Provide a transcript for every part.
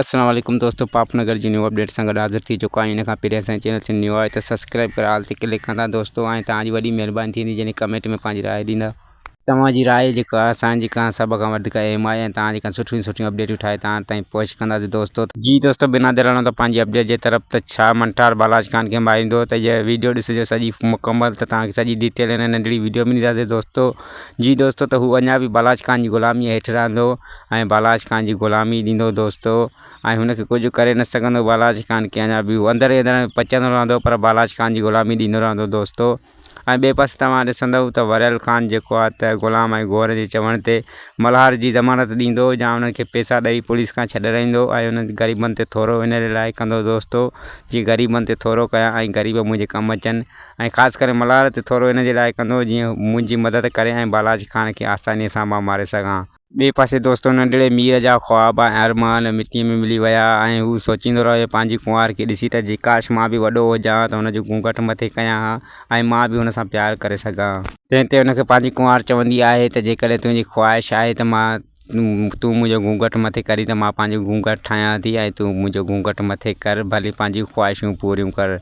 اسلام عليڪم دوستو پاپ نگر جي نيو اپڊيٽ سان گڏ حاضر ٿي چڪو آهيان ان کان پهرين اسان جي چينل تي نيو آهي ته سبسڪرائب ڪري آل تي ڪلڪ ڪندا دوستو ۽ توهان جي وڏي مهرباني ٿيندي جڏهن ڪمينٽ ۾ پنهنجي راء ڏيندا توهان جي راء جيڪا آهي اسان جي کان سڀ کان وڌيڪ اهم آهي ۽ توهان جي کان سٺيون سٺيون اپڊيٽون ٺاهي توهان تائين پهچ ڪنداسين دوستو. جي دوستو بنا دير هلندو پنهنجي اپڊيٽ جي طرف ته ڇا منٽار بالاج خان کي ماريندو ته هيء ويڊيو ڏسجو سڄي مڪمل ته توهان کي سڄي ڊيٽيل هن ننڍڙي ويڊيو ۾ ڏينداسين دوستو جي دوستو ته هو اڃا به بالاچ خان جي غلاميء هيٺ رهندو ۽ بالاچ خان جي غلامي ڏيندو دوستو ۽ هن کي ڪجهه ڪري نه سگهندو بالاچ خان کي اڃا به هو اندر ئي اندر پچندو رهندو پر بالاچ خان جي غلامي ڏيندو رهندو دوستو ۽ ٻئي پاسي توهان ڏسندؤ ته وريل خان جيڪو آهي ته غلام ۽ گورن جي چوڻ تي ملهار جي ضمانت ڏيندو يا انهن کي پئسا ڏئي پوليس کان ڇڏرائيندو ۽ انهن غريبن تي ٿورو ان لاء ڪندو دوستو جي غريبن تي ٿورو ڪيان ۽ غريب منهنجي ڪم اچن ۽ خاص ڪري ملهار تي ٿورو ان جي لاء ڪندو جيئن هو منهنجي مدد ڪري ۽ بالاچ خان کي آسانيء سان مان ماري سگهان. ٻئي پاسي دوستو ننڍڙي مير جا خواب ۽ ارمان مٽيء ۾ ملي ويا ۽ هو سوچيندو رهيو پنهنجي ڪنوار کي ڏسي ته جي ڪاش مان به وڏو هجان ها ته هن جو گهونگهٽ مٿي ڪيان ها ۽ مان به هن سان پيار ڪري سگهان ها. تنهن تي هن کي پنهنجي ڪنوار چوندي آهي ته جيڪڏهن تنهنجي خواهش آهي ته مان تون منهنجو گهونگهٽ مٿي ڪرين ته مان پنهنجو گهونگهٽ ٺاهيان ٿي ۽ تون منهنجو گهونگهٽ مٿي ڪر ڀلي پنهنجون خواهشون پوريون ڪر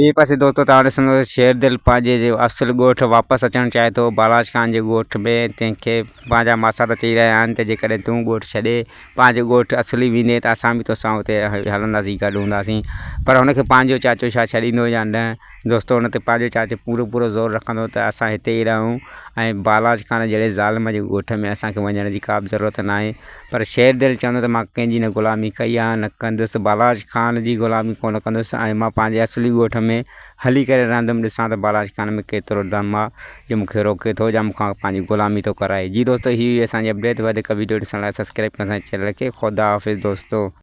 ٻئي پاسي دوستو تان وٽ سندس شيردل پنهنجي جي اصل ڳوٺ واپس اچڻ چاهي ٿو بالاچ خان جي ڳوٺ ۾ تنهن کي پنهنجا ماسات چئي رهيا آهن ته جيڪڏهن تون ڳوٺ ڇڏي پنهنجو ڳوٺ اصلي ويندين ته اسان به توسان اتي هلنداسين گڏ هونداسين پر هن کي پنهنجو چاچو ڇا ڇڏيندو يا نه دوستو ان تي پنهنجو چاچو پورو پورو زور رکندو ته اسان هتي ئي رهون ۽ بالاچ خان جهڙي ظالم جي ڳوٺ ۾ اسان کي وڃڻ جي ڪابه ضرورت ناهي پر شير دل چوندو ته مان ڪنهن جي نه غلامي ڪئي آهي نه ڪندس بالاچ خان جي غلامي ڪونه ڪندس ۽ مان پنهنجي اصلي ڳوٺ ۾ هلي ڪري رهندم ڏسان ته بالاچ خان ۾ ڪيترو دم آهي جو مون کي روڪي ٿو يا مون کان پنهنجي غلامي ٿو ڪرائي جي دوستو هي هئي اسان جي اپڊيٽ وڌيڪ وڊيو ڏسڻ لاء سبسڪرائب ڪيو اسان جي چينل کي خدا حافظ دوستو.